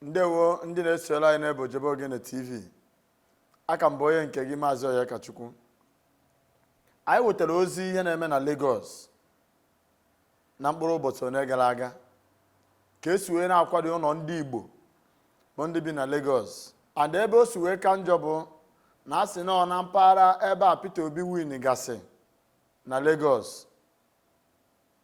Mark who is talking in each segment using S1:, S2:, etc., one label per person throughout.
S1: ndewo ndị na-esola anyị n'ebe ojebe ogene tv aka m bụ onye nke gị maazị Onyekachukwu anyị wetara ozi ihe na-eme na Lagos na mkpụrụ ụbọchị one gara aga ka esi wee na-akwada ụlọ ndị Igbo bụ ndị bi na Lagos and ebe o si wee ka njọ bụ na a sị na ọ na mpaghara ebe a Peter Obi winigasị na Lagos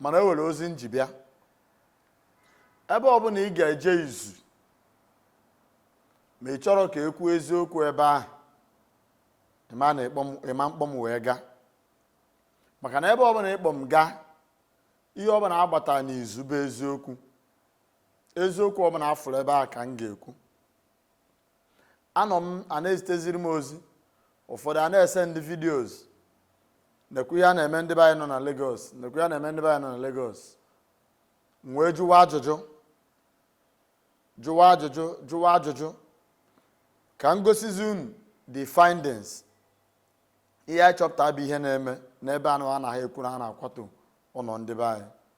S1: mana o nwere ozi m ji bịa ebe ọbụla ị ga-eje izu ma ị chọrọ ka e kwuo eziokwu ebe ahụ ị ma na ị kpọ m- ị ma mkpọ m wee gaa maka na ebe ọbụla ị kpọ m gaa ihe ọbụla a gbata n'izu bụ eziokwu eziokwu ọbụla a fụrụ ebe a ka m ga-ekwu anọ m a na-eziteziri m ozi ụfọdụ a na-esendi videos nekwa ihe a na-eme ndị be anyị nọ na Lagos nekwa ihe a na-eme ndị be anyị nọ na Lagos m wee jụwa ajụjụ jụwa ajụjụ jụwa ajụjụ ka m gosizi unu the findings ihe anyị chọpụta bụ ihe na-eme n'ebe anụwa a na-ekwu na a na-akwatu ụlọ ndị be anyị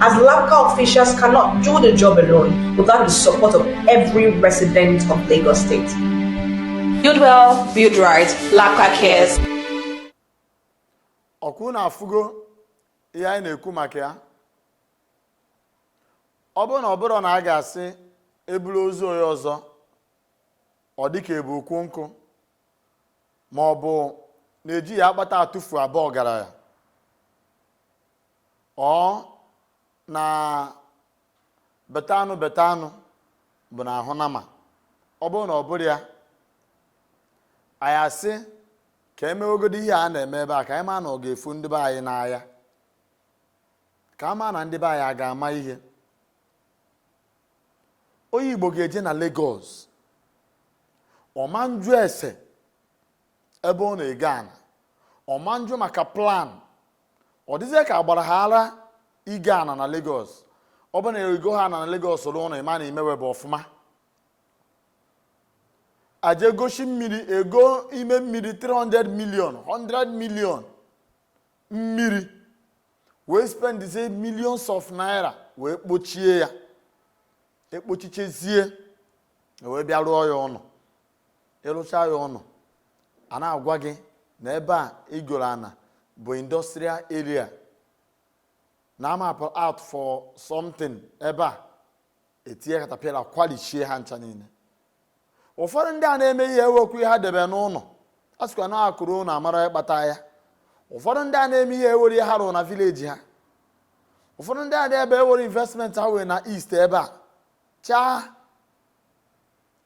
S1: as local officials cannot do the job alone without the support of every resident of Lagos State. Build well, build right, LASBCA cares. ọ kwa unu afụgo ihe anyị na-ekwu maka ya ọ bụrụ na ọ bụrụ na a ga-asị e buru ozu onye ọzọ ọ dịka e bu ukwu nkụ ma ọ bụ na ejighị akpata atụfu abụ ọgaranya ọ na beta anụ beta anụ bụ n'ahụ nama ọ bụrụ na ọ bụrụ ya anyị asị ka e mewegodi ihe a na-eme ebe a ka anyị ma na ọ ga-efu ndị be anyị n'anya ka a ma na ndị be anyị a ga-ama ihe onye igbo ga-eje na Lagos ọ ma njụ ese ebe ọ na-ego ana ọ ma njụ maka plan ọ dịzie ka a gbara ha ara igo ana na Lagos ọ bụ na i goha ana na Lagos rụọ ụlọ ị ma na i mewebu ọfụma aje gosi mmiri e goo ime mmiri 300 million 100 million mmiri wee spendizie millions of naira wee kpochie ya ekpochichezie wee bịa rụọ ya ụnọ ị rụcha ya ụnọ a na-agwa gị na ebe a i goro ana bụ industrial area na a mapụ out for something ebe a etinye katapila kwalishie ha ncha niile ụfọdụ ndị a na-eme ihe enwekwu ihe ha debe n'ụlọ a sịkwa na akụ ruo ụnọ amara onye kpata ya ụfọdụ ndị a na-eme ihe enwero ihe ha rụrụ na village ha ụfọdụ ndị a na-ebe enwero investment ha nwere na east ebe a chaa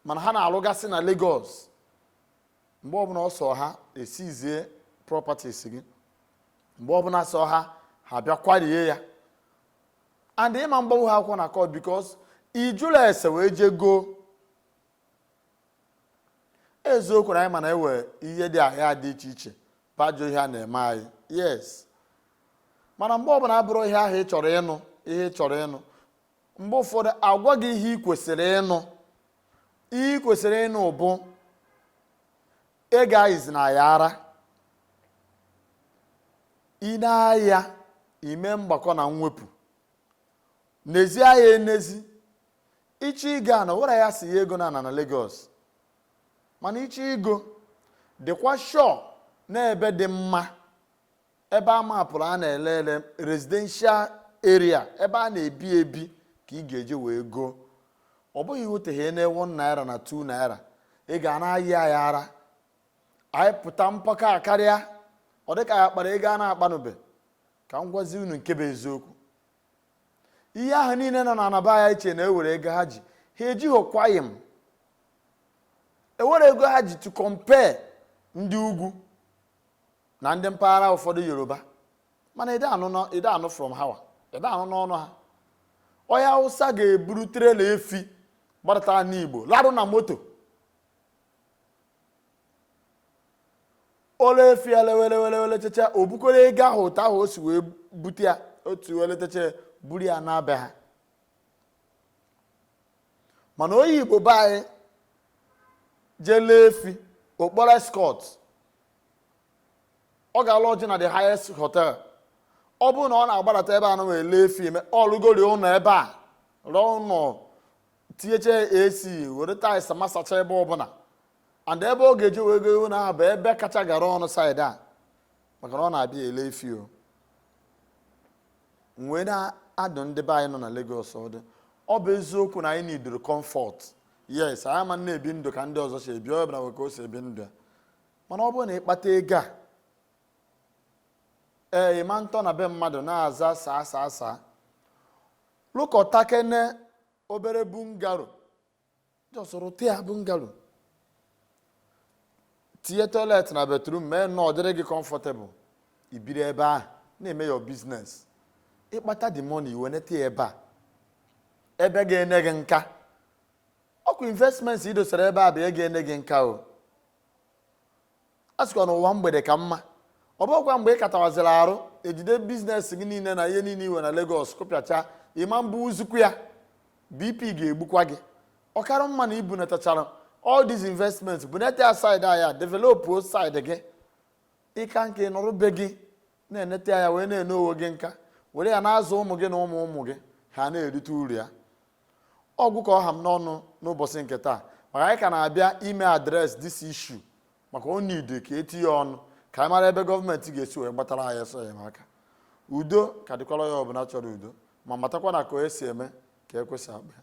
S1: mana ha na-alụgasị na Lagos mgbe ọbụla ọ sọ ha e seize properties gị mgbe ọbụla sọ ha ha bịa kwarie ya and ị ma mgbanwu ha akwụkwọ na court because ijụla ese wee jee goo eziokwu na anyị ma na enwe ihe dị ahịa dị iche iche bajụ ihe a na-eme anyị yes mana mgbe ọbụla abụrọ ihe ahụ ị chọrọ ịnụ ihe ị chọrọ ịnụ mgbe ụfọdụ agwa gị ihe ị kwesịrị ịnụ ihe ị kwesịrị ịnụ bụ ị gaghịzi na-ayị ara i nee anya i mee mgbakọ na mwepụ nezie anya enezie ị chọọ igo ana o nwero onye sị ya egona ana na Lagos mana ị chọọ igo dịkwa sure na ebe dị mma ebe a mapụrụ a na-ele ele residential area ebe a na-ebi ebi ka ị ga-eje wee goo ọ bụghị ihoteghị na 1 naira na 2 naira ị ga na-ayị ya ara a yịpụta mpako karịa ọ dịka ya kpara ego a na-akpanụbe ka m gwazi unu nke bụ eziokwu ihe ahụ niile nọ na ana be anyị chee na enwere ego ha ji ha ejighịkwaghị m o nwero ego ha ji to compare ndị ugwu na ndị mpaghara ụfọdụ yoruba mana ị dị anụ from ha wa ị dị anụ n'ọnụ ha onye awụsa ga-eburu trailer efi gbadata n'igbo larụ na moto o lee efi ya lewe lewe lewe lechecha o bukọrọ ego ahụ otu ahụ o si wee bute ya o si wee lechecha buru ya naa be ha mana onye igbo be anyị je-ele efi ọ kpọrọ escort ọ ga-alodge na the highest hotel ọ bụrụ na ọ na-agbadata ebe a na wee lee efi eme ọ lụgori ụlọ ebe a rụọ ụlọ tinyecha ac were tiles masacha ebe ọbụla and ebe ọ ga-eji wee go ụlọ ahụ bụ ebe kacha gara ọnụ side a maka na ọ na-abịa ele efi o wee na-adụ ndị be anyị nọ na Lagos ọdụ ọ bụ eziokwu na anyị needịrị comfort yes anyị ama na-ebi ndụ ka ndị ọzọ si ebi onye ọbụla nwee ka o si ebi ndụ ya mana ọ bụrụ na ị kpata ego a ee ị ma ntọ na be mmadụ na-aza sir sir sir lụkọtakene obere bungalow just rụtịa bungalow tinye toilet na bathroom mee nnọọ dịrị gị comfortable i biri ebe ahụ na-eme your business ị kpata the money i wenete ya ebe a ebe ga-ene gị nka ọ kwa investments i dosara ebe a bụ ya ga-ene gị nka o a sịkwa na ụwa mgbede ka mma ọ bụkwa mgbe ị katawaziri arụ e jide business gị niile na ihe niile i nwe na Lagos kụpịacha ịma mbụ uzukwu ya BP ga-egbukwa gị ọ kara mma na i bunatachara all these investments bunete ya side a ya develop side gị ị ka nka ị nọrọ be gị na-enete ya wee na-ene onwe gị nka were ya na-azụ ụmụ gị na ụmụ ụmụ gị ha na-erite uru ya ọ gwụ ka ọ ha m n'ọnụ n'ụbọchị nke taa maka anyị ka na-abịa ime address this issue maka ọ need ka e tinye ọnụ ka anyị mara ebe gọọmenti ga-esi wee gbatara anyị ọsọ enyemaka udo ka dịkwara onye ọbụla chọrọ udo ma matakwa na ka onye si eme ka ekwe si akpọ ya